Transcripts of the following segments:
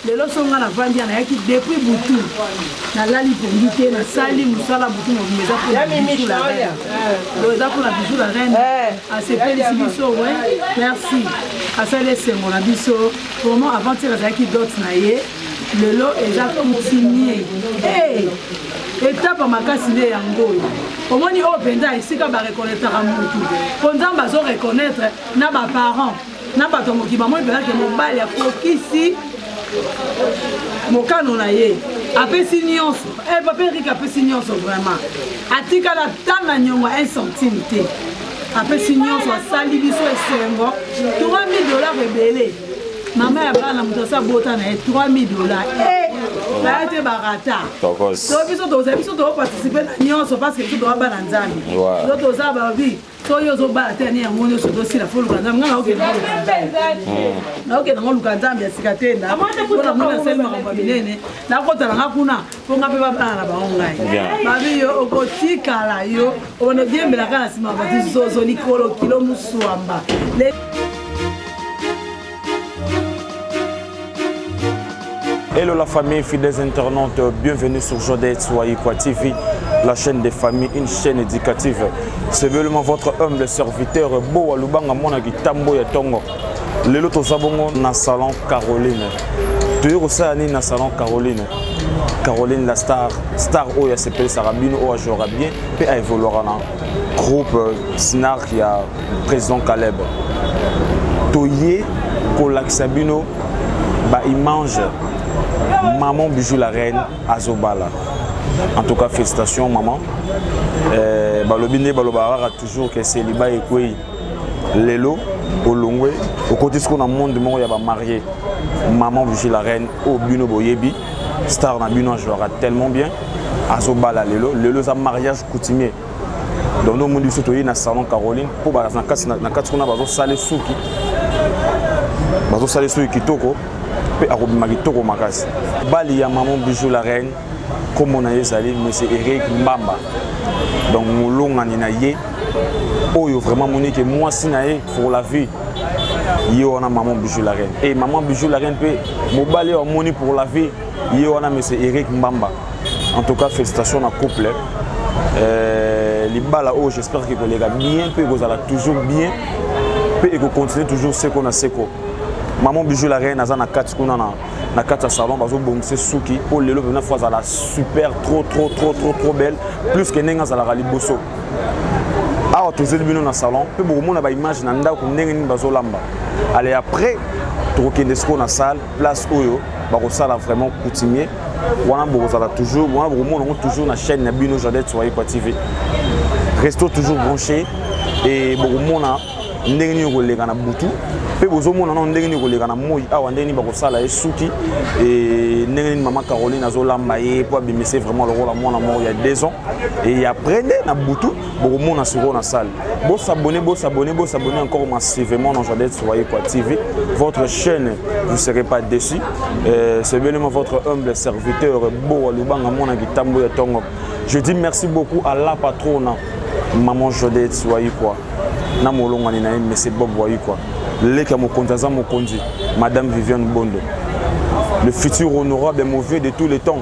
lelo so nga navandi ya nayaki depuis butu nalali pongi te nasali mosala butu mobima eza mpo eza mpo na bijou la reine eh. asepelisi biso we merci asali esengo na biso vraiment avant tir azalaki dot na ye lelo eza coutumier eh! etape ya makasi nde yango oyo omoni oyo mpenza esika barekonetraka motu mpo nzambe azorekonetre na baparent na bato ya mokili bamoni mpenza ke mobali akokisi mokano na ye apesi nyonso eh, papa erike apesi nyonso vraiment atikala ta na nyongo un centime te apesi nyonso asali biso esengo 3000 dollars ebele mama ya bana moto asi abota na ye 3000 dollars eh, baya te barata to biso tozali biso toparticipe na nyonso parce que biso toza bana nzambe to toza babi soki ozobala te ani yango nyonso ozosila fo luka nzambe ngai naokenda naokenda ngo luka nzambe ya sika te ndapona mona asali makambo ya minene nakotala nga kuna mpo nga mpe babala na bango ngai babi yo okotikala yo obanda odiembelaka na nsima bato zozo likolo kilo mosuamba Hello la famille, fidèles internautes, bienvenue sur Jodette Soyikwa TV, la chaîne des familles, une chaîne éducative. C'est vraiment votre humble serviteur, Boa Lubanga Mona Gitambo Yatongo. Lelo Tozabongo na salon Caroline. Toyo kosala nini na salon Caroline Caroline la star, star oyo asepeli sarabino oyo ajouera bien mpe aevoluera na groupe euh, snark ya président caleb toye kolakisa bino baimage maman bijou la reine azobala en tout cas félicitations maman euh, balobi nde balobaka kaka toujours ke seliba ekwei lelo olongwe okoti siko na monde moko ya bamarie maman bijou la reine oyo bino boyebi star na bino ajouaka tellement bien azobala lelo lelo eza mariage coutumier donc nde omoni biso toyei na salon caroline mpo baza na kati kuna bazosala esuki bazosala esuki kitoko mpe akobima kitoko makasi bali ya maman bijou la reine nkombo na ye ezali monsieur eric mbamba donc molongani na ye oyo vraiment moni ke mwasi na ye pour la vie ye wana maman bijou la reine e maman bijou la reine mpe mobali oyo amoni pour la vie ye wana monsieur eric mbamba en tout cas félicitation na couple euh, libala oyo j'espère ke koleka bien mpe ekozala toujours bien mpe ekocontinue toujours seko na seko maman bijou la reine aza na kati kuna na, na kati ya salon bazobongisa suki mpo lelo mpena fo azala super trop trop trop trop trop belle plus ke ndenge azalaka liboso awa tozeli bino na salon mpe bokomona baimage na ndako ndenge nini bazolamba ale après tokokende sikoyo na salle place oyo bakosala vraiment coutumier wana bokozala toujours wana bokomona yango toujours na chaîne na bino jardin soyekwa tv resto toujours branché e bokomona ndenge nini okoleka na butu mpe bozomona nano ndenge nini koleka na moi awa ndenge nini bakosala ye suki e, ndenge nini mama caroline azolamba ye mpo abimisa ye vraiment lokola mwana moko ya deux ans e après nde na butu bokomona sikoyo na salle bosabone bosabone bosabone encore massivement na jadel soyekwa tv votre chaîne vous serez pas déçu euh, c'est belema votre humble serviteur boa lubanga mwana kitambo ya tongo je dis merci beaucoup à la patrona maman jodette soyekwa na molongani na ye monsieur bob wayekwa leki ya mokonzi aza mokonzi madame viviane bondo le futur honorable mauvais de tous les temps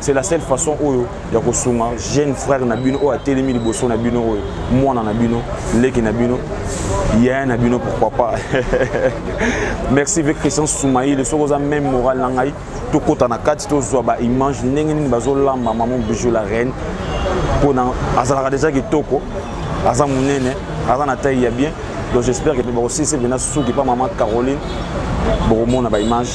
c'est la seule façon oyo ya kosunga jeune frère na bino oyo atelemi liboso na bino oyo mwana na bino leki na bino yaya na bino pourquoi pas merci ve christian soumaile soki oza même moral na ngai tokɔta na kati tozwa baimage ndenge nini bazolamba mama bijou la reine mpona azalaka deja kitoko aza monene aza na taille ya bien donc j'espère que bakosilisa mpena suki mpa mama caroline bokomona baimage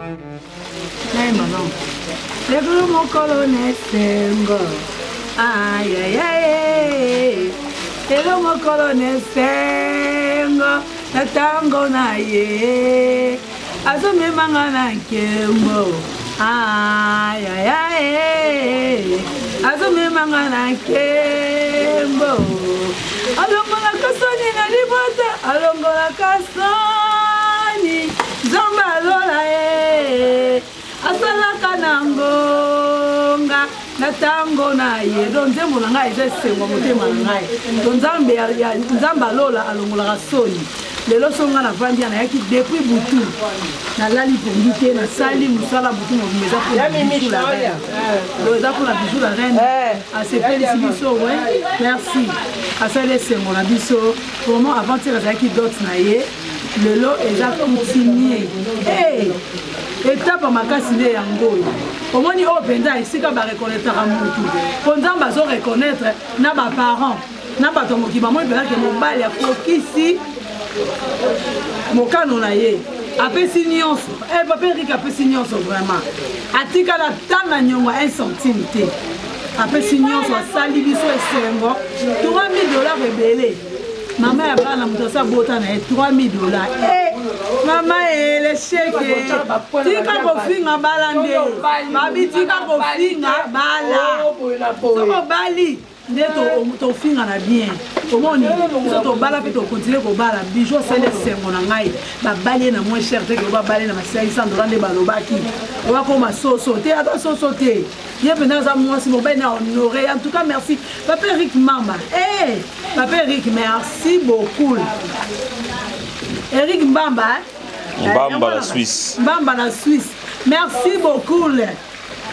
Hey, maman. Lelo mokolo na esengo. Ay, ay, ay. Lelo mokolo na esengo. Na tango na ye. Azomema nga na nkembo. Ay, ay, ay. Azomema nga na nkembo. Alongolaka soni na libota. Alongolaka soni. Nzambe ya lola e asalaka na ngonga na ntango na ye do nzembo na ngai eza esengo motema na ngai to nzambe ya nzambe alola alongolaka soni lelo so ngai navandi ya nayaki depuis butu nalali pongi te nasali mosala butu mobima eza mpona bijou la reine eza mpona bijou la reine eh. asepelisi biso we merci asali esengo na biso vraiment aventure azalaki dot na ye lelo eza coutumier hey, etapa makasi nde yango oyo omoni oyo mpenza esika barekonetraka motu mpo nzambe azorekonetre na baparent na bato ya mokili bamoni mpenza ke mobali akokisi mokano na ye apesi nyonso eh, papa erike apesi nyonso vraiment atikala ta na nyongo 1 centime te apesi nyonso asali biso esengo 3000 dollar ebele mama ya bana moto asi abota na ye 3000 dollars eh, mama elesheke tika kofinga bala nde babi tika kofinga bala oh, soko bali nde tofinga na bien omoni biso tobala mpe tokontinue kobala bijo asali esengo na ngai babali ye na moins cher te ke babali na masilaki sandola nde balobaki oyo akoma soso te ata soso te ye mpena aza mwasi mobali na honore en tout cas merci papa eric mama hey, eh, papa eric merci beaucoup eric mbamba eh? mbamba eh, na suisse mbamba na suisse merci beaucoup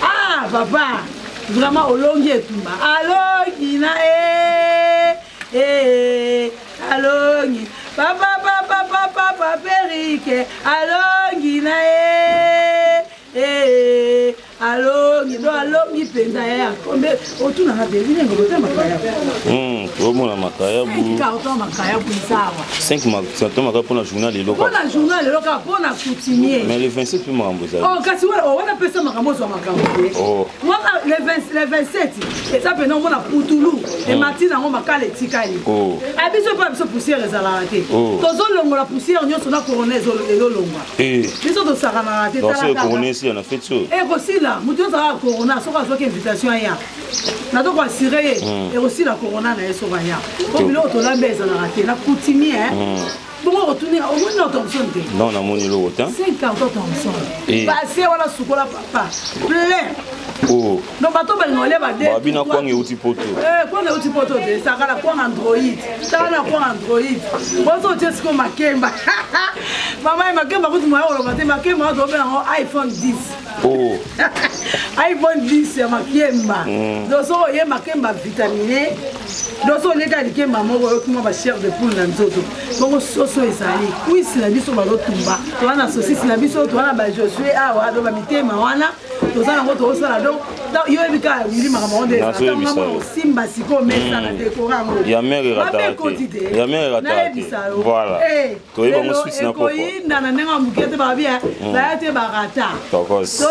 ah papa vraiment olongi etumba alongi na e e alongi papa papa papa papa eric alongi na e e alongi do alongi mpenza ya yakombe otuna na beli ndenge bota makayabu hmm, omona makayabu carton makayabu ezawa 5 carton makayabu mpona journal lelo mpona journal lelo kaka mpona coutumier mais le 27 mpe makambo ezali oh, kasi oh, wana pesa makambo ozwa makambo te oh. wana le 27 eza mpena omona putulu hmm. emati nango makala etikali abiso mpe biso poussière ezalaka te tozolongola poussière nyonso na corona ezolongwa Eh. biso tosakanaka te na feti oyo eh, ekosila moto ozalaka corona soki azwaki invitation aya nato koassure ye hmm. ekosila corona na ye soki aya po biloko tolambi ezalaka te na coutumier eh. hmm. bongo kotunela omoni na thomson te non namoni eloko te 5 carton thomson base wana sukola papa plein oh. donc bato bengole bababina kwanga euti poto eh, kwanga euti poto te sakala kwanga android sakala kwanga android bozotie siko makemba mama ye makemba kutu moya koloba te makemba oyo tobela yango iphone 10 oh. iphone 10 ya makemba mm. doso oye makemba vitamine doso oleka likemba moko oyokuma bachef de poule na nzoto bongo soso ezali kwisi na biso bazotumba toza na sosisi na biso toza na bajosue awa do bamitema wana toza nango tokosala donc yo oyebi kaka wili makambo yango ndeaama osimba sikoyo mesa na dekora yangoyameraekotideayebisa yoekoyinda na ndenge ya moke te babi baya te barata to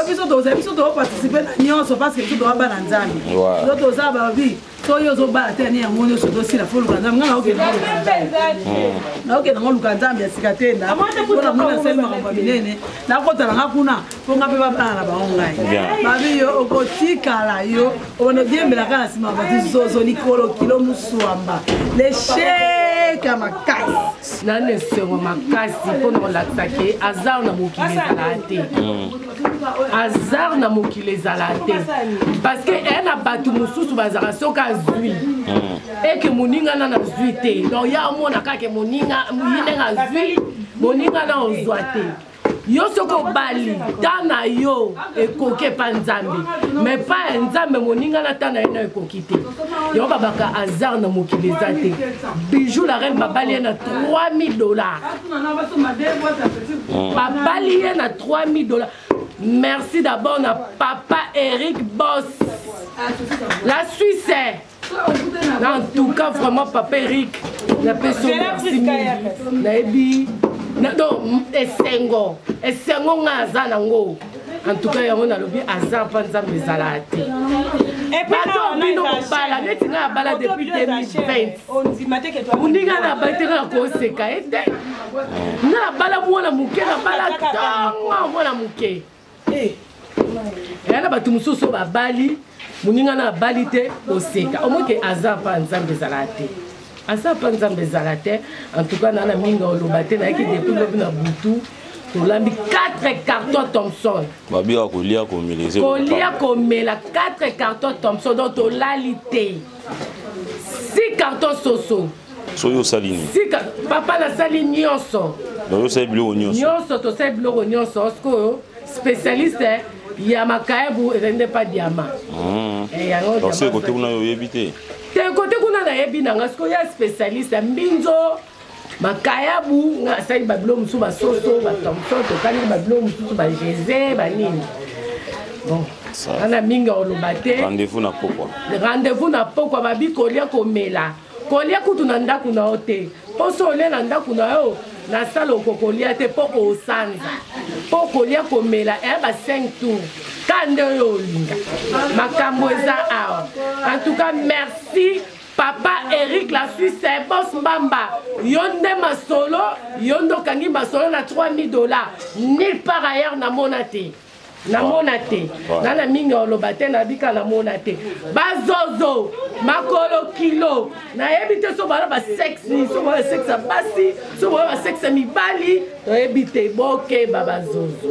biso tozali biso tokoparticipe na nyonso parce que biso toza bana nzambe yo toza babi soki ozobala te ani yango nyonso ozosila fo luka nzambe ngai naokenda naokenda ngo luka nzambe ya sika te ndapona mona asali makambo ya minene nakotala nga kuna mpo nga mpe babala na bango ngai babi yo okotikala yo obanda odiembelaka na nsima bato zozo likolo kilo moswamba lesheka makasi nani esengo makasi mpo na kolakisa ke aza na mokili ezalaa te mm. hasard na mokili ezala te parce que e na bato mosusu bazalaka soki azwi mm. eke moninga na nazwi te donc ya omona kaka moninga moyinde nga azwi moninga na ozwa te yo soki obali ta na yo ekoki epa nzambe me pa ya nzambe moninga na ta na ye na ekoki te yango babaka hasard na mokili eza te bijou la reine babali ye na 3000 dollars babali ye na 3000 dollars merci d'abord na papa eric bos la suisse eh. na en tout cas vraiment papa eric napesi merci mingi nayebi donc esengo esengo ngai aza nango en tout cas yango nalobi aza mpa nzambe ezalaka te bato bino kobala neti ngai abala depuis 2020 moninga na bateka na koseka ye te nga nabala mwana moke nabala tonga mwana moke eh. eya na bato mosusu babali moninga na abali te oseka omoke aza mpa nzambe ezala te aza mpa nzambe ezala te en tout cas na na mingi oloba te nayaki depuis lobi na butu tolambi 4 carton thomson babia kolia komelese kolia komela 4 carton thomson donc tolali te si carton soso soki osali nini sika papa nasali nyonso osali biloko nyonso nyonso tosali biloko nyonso sikoyo spécialiste ya makaebu ezali nde mpa diama hmm. eh, yango kote kuna yo oyebi te te kote kuna nayebi na nga sikoyo ya spécialiste mbinzo makayabu nga asali babilo mosusu basoso batomso tokangi babilo mosusu bageze banini bon wana mingi oloba te rendez-vous na pokwa rendez-vous na pokwa babi kolia komela kolia kutu na ndako na yo te mpo so olia na ndako na yo na sala okokolia te mpo osanza mpo kolia komela eya ba 5 tour ka nde oyo olinga makambo eza awa en tout cas merci papa eric la suisse bos mbamba yo nde masolo yo nde okangi masolo na 3000 dollars nil par ailleurs namona te namona te nga na mingi oloba te nabika namona te bazozo makolo kilo nayebi te so bana basexi so bana sexe ya basi so bana basexe ya mibali toyebi te bokeba bazozo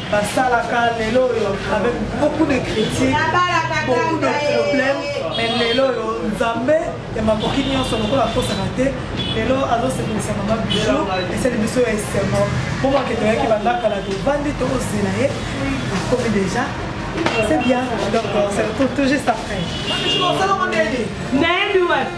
basalaka lelo oyo avec beaucoup de critiques beaucoup de problèmes mais lelo oyo nzambe ya makoki nyonso lokola akosaka te lelo azosepelisa mama bijo esali biso ya esengo bomake toyaki banda kala tovandi tozela ye akomi deja c'est bien donc on se retrouve tout juste après